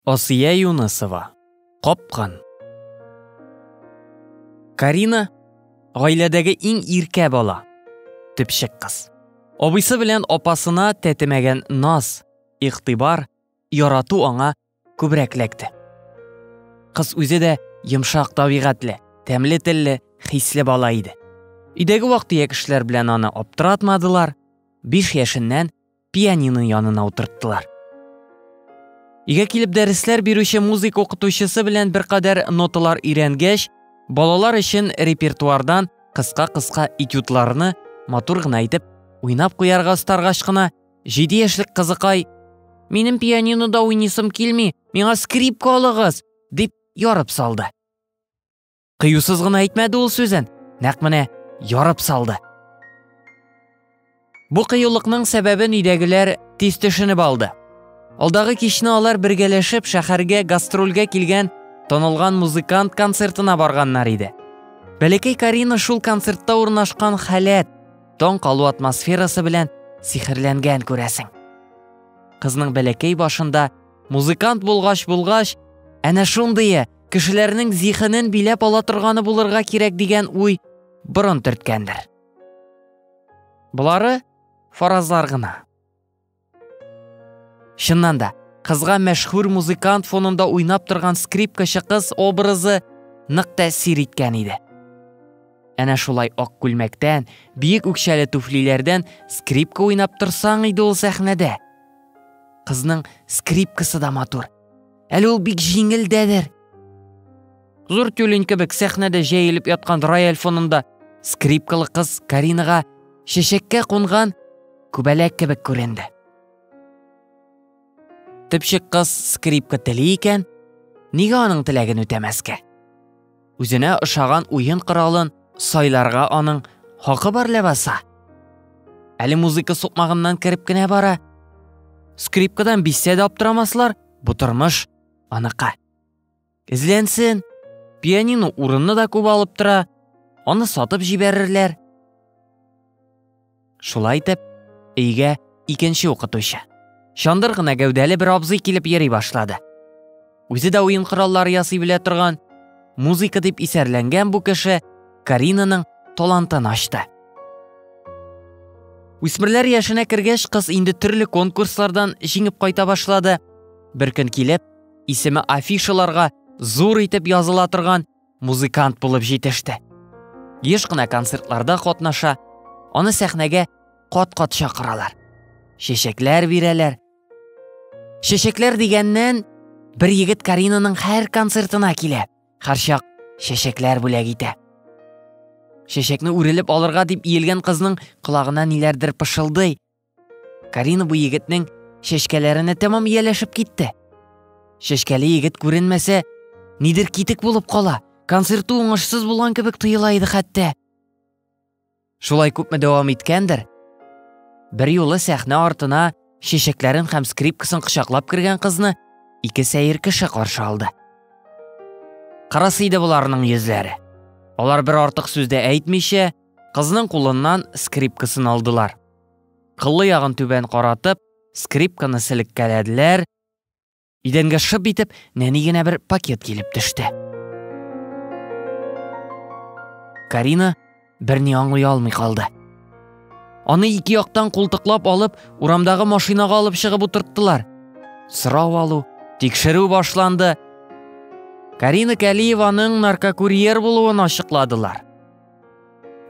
Асия Юнысова, капкан. Карина, гаиләдәге иң иркә бала, төпчек кыз. Абыйсы белән апасына тәтемәгән наз, игътибар, ярату аңа күбрәк ләкте. Кыз үзе дә йомшак табигатьле, тәмле телле, хисле бала иде. Өйдәге вак-төяк эшләр белән аны аптыратмадылар, биш яшеннән пианино янына утырттылар. Игә килеп дәресләр бирүче музыка укытучысы белән беркадәр ноталар өйрәнгәч, балалар өчен репертуардан кыска-кыска этюдларны матур гына итеп уйнап куярга старгач кына, җиде яшьлек кызыкай «Минем пианинода уйнисым килми, миңа скрипка алыгыз!» дип ярып салды. кыюсыз гына әйтмәде ул сүзен нәкъ менә ярып салды бу кыюлыкның сәбәбен өйдәгеләр тиз төшенеп алды алдагы кичне алар бергәләшеп шәһәргә гастрольгә килгән танылган музыкант концертына барганнар иде бәләкәй карина шул концертта урнашкан халәт таң калу атмосферасы белән сихерләнгән күрәсең кызның бәләкәй башында музыкант булгач булгач әнә шундые кешеләрнең зихенен биләп ала торганы булырга кирәк дигән уй борын төрткәндер. Болары фаразлар гына. Чыннан да, кызга мәшһүр музыкант фонында уйнап торган скрипкачы кыз образы нык тәэсир иткән иде. Әнә шулай ак күлмәктән, биек үкчәле туфлиләрдән скрипка уйнап торсаң иде ул сәхнәдә. Кызның скрипкасы да матур, Әле ул бик җиңелдәдер. Зур тюлень кебек сәхнәдә җәелеп яткан рояль фонында скрипкалы кыз Каринага чәчәккә кунган күбәләк кебек күренде. Төпчек кыз скрипка тели икән, нигә аның теләген үтәмәскә? Үзенә ошаган уен коралын сайларга аның хакы бар ләбаса. Әле музыка сукмагыннан кереп кенә бара. Скрипкадан бисә дә аптырамаслар, бу тормыш аныкы. Эзләнсен. Пианино урынны да күп алып тора. Аны сатып җибәрерләр. Шулай итеп, өйгә икенче укытучы. Чандыр гына гәүдәле бер абзый килеп йөри башлады. Үзе дә уен кораллары ясый белә торган, музыка дип исәрләнгән бу кеше Каринаның талантын ачты. Үсмерләр яшенә кергәч, кыз инде төрле конкурслардан җиңеп кайта башлады. Бер көн килеп, исеме афишаларга зур итеп языла торган музыкант булып җитеште. Еш кына концертларда катнаша, аны сәхнәгә кат-кат чакыралар. Чәчәкләр бирәләр. Чәчәкләр дигәннән, бер егет Каринаның һәр концертына килә. Харчак чәчәкләр бүләк итә. Чәчәкне үрелеп алырга дип иелгән кызның колагына ниләрдер пышылдый, Карина бу егетнең чәчкәләренә тәмам ияләшеп китте. Чәчкәле егет күренмәсә, нидер китек булып кала, концерты уңышсыз булган кебек тоела иде хәтта. Шулай күпме дәвам иткәндер, бер юлы сәхнә артына чәчәкләрен һәм скрипкасын кочаклап кергән кызны ике сәер кеше каршы алды. Карасы иде боларның йөзләре. Алар бер артык сүздә әйтмичә, Кызның кулыннан скрипкасын алдылар. Кыллы ягын түбән каратып, скрипканы селеккәләделәр. Идәнгә шып итеп, нәни генә бер пакет килеп төште. Карина берни аңлый алмый калды. Аны ике яктан култыклап алып, урамдагы машинага алып чыгып утырттылар. Сорау алу, тикшерү башланды. Карина Кәлиеваның наркокурьер булуын ачыкладылар.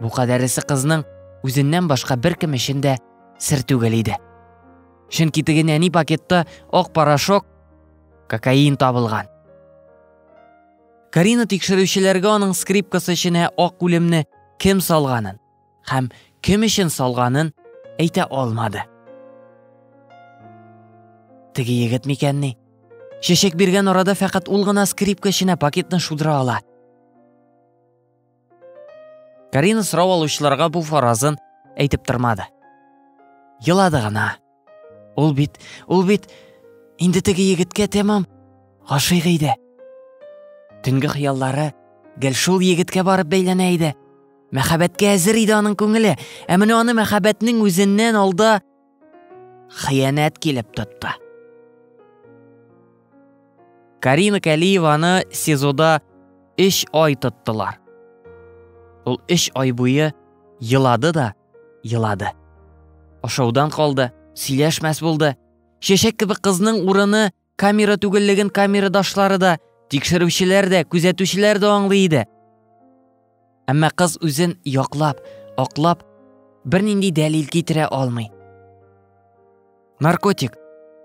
Бу кадәресе кызның үзеннән башка беркем өчен дә сер түгел иде. Чөнки теге нәни пакетта ак порошок, кокаин табылган. Карина тикшерүчеләргә аның скрипкасы эченә ак үлемне кем салганын һәм кем өчен салганын әйтә алмады. Теге егет микәнни? Чәчәк биргән арада фәкать ул гына скрипка эченә пакетны шудыра ала – Карина сорау алучыларга бу фаразын әйтеп тормады. Елады гына. Ул бит, ул бит инде теге егеткә тәмам гашыйк иде. Төнге хыяллары гел шул егеткә барып бәйләнә иде. Мәхәббәткә әзер иде аның күңеле, ә менә аны мәхәббәтнең үзеннән алда хыянәт килеп тотты. Карина Кәлиеваны СИЗОда өч ай тоттылар. Ул өч ай буе елады да елады. Ашаудан калды, сөйләшмәс булды. Шешек кебек кызның урыны Камера түгеллеген камерадашлары да, тикшерүчеләр дә, күзәтүчеләр дә аңлый иде. Әмма кыз үзен яклап, аклап, бернинди дәлил китерә алмый. Наркотик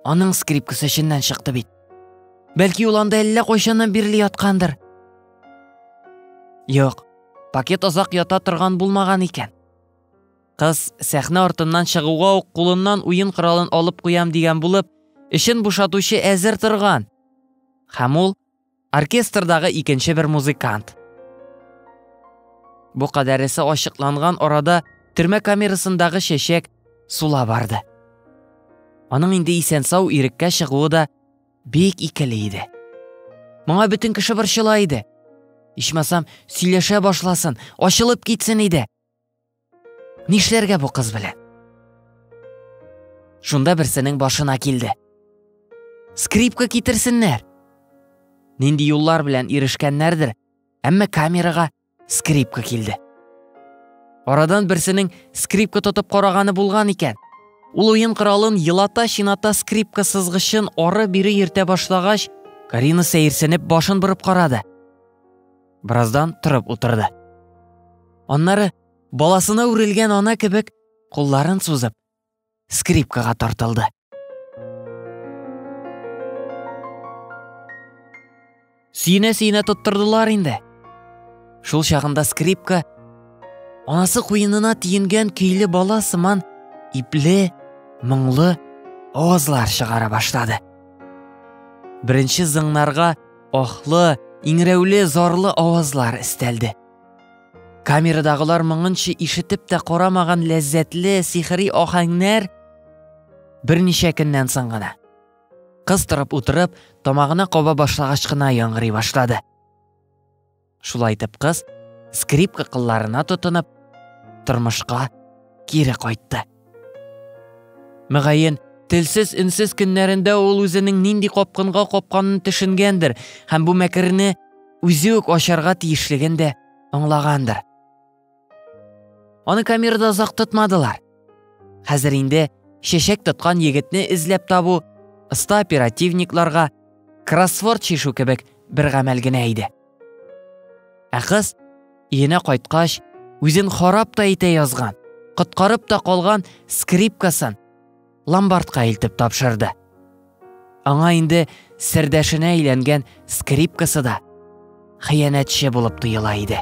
аның скрипкасы эченнән чыкты бит. Бәлки ул анда әллә кайчаннан бирле яткандыр. Юк, пакет озак ята торган булмаган икән. Кыз, сәхнә артыннан чыгуга ук кулыннан уен коралын алып куям дигән булып, эчен бушатучы әзер торган. Һәм ул оркестрдагы икенче бер музыкант. Бу кадәресе ачыкланган арада төрмә камерасындагы чәчәк сула барды. Аның инде исән-сау иреккә чыгуы да бик икеле иде. Моңа бөтен кеше борчыла иде. Ичмасам, сөйләшә башласын, ачылып китсен иде. Нишләргә бу кыз белән? Шунда берсенең башына килде. Скрипка китерсеннәр. Нинди юллар белән ирешкәннәрдер, әмма камерага скрипка килде. Арадан берсенең скрипка тотып караганы булган икән. Ул уен коралын елата-чината скрипка сызгычын ары бире йөртә башлагач, Карина сәерсенеп башын борып карады. Бераздан торып утырды. Аннары баласына үрелгән ана кебек кулларын сузып, скрипкага тартылды. Сөенә-сөенә тоттырдылар инде. Шул чагында скрипка анасы куенына тиенгән көйле бала сыман ипле, моңлы авазлар чыгара башлады. Беренче зыңнарга Ахлы, иңрәүле, зарлы авазлар истәлде. Камерадагылар моңынчы ишетеп тә карамаган ләззәтле сихри ахәңнәр берничә көннән соң гына. Кыз торып утырып, тамагына каба башлагач кына яңгырый башлады. Шулай итеп кыз, скрипка кылларына тотынып, тормышка кире кайтты. Мөгаен, телсез үнсез көннәрендә ул үзенең нинди капкынга капканын төшенгәндер һәм бу мәкерне үзе үк ачарга тиешлеген дә аңлагандыр. Аны камерада озак тотмадылар. Хәзер инде чәчәк тоткан егетне эзләп табу оста оперативникларга кроссворд чишү кебек бер гамәл генә иде. Ә кыз өенә кайткач, үзен харап та итә язган, коткарып та калган скрипкасын ломбардка илтеп тапшырды. Аңа инде сердәшенә әйләнгән скрипкасы да хыянәтче булып тоела иде.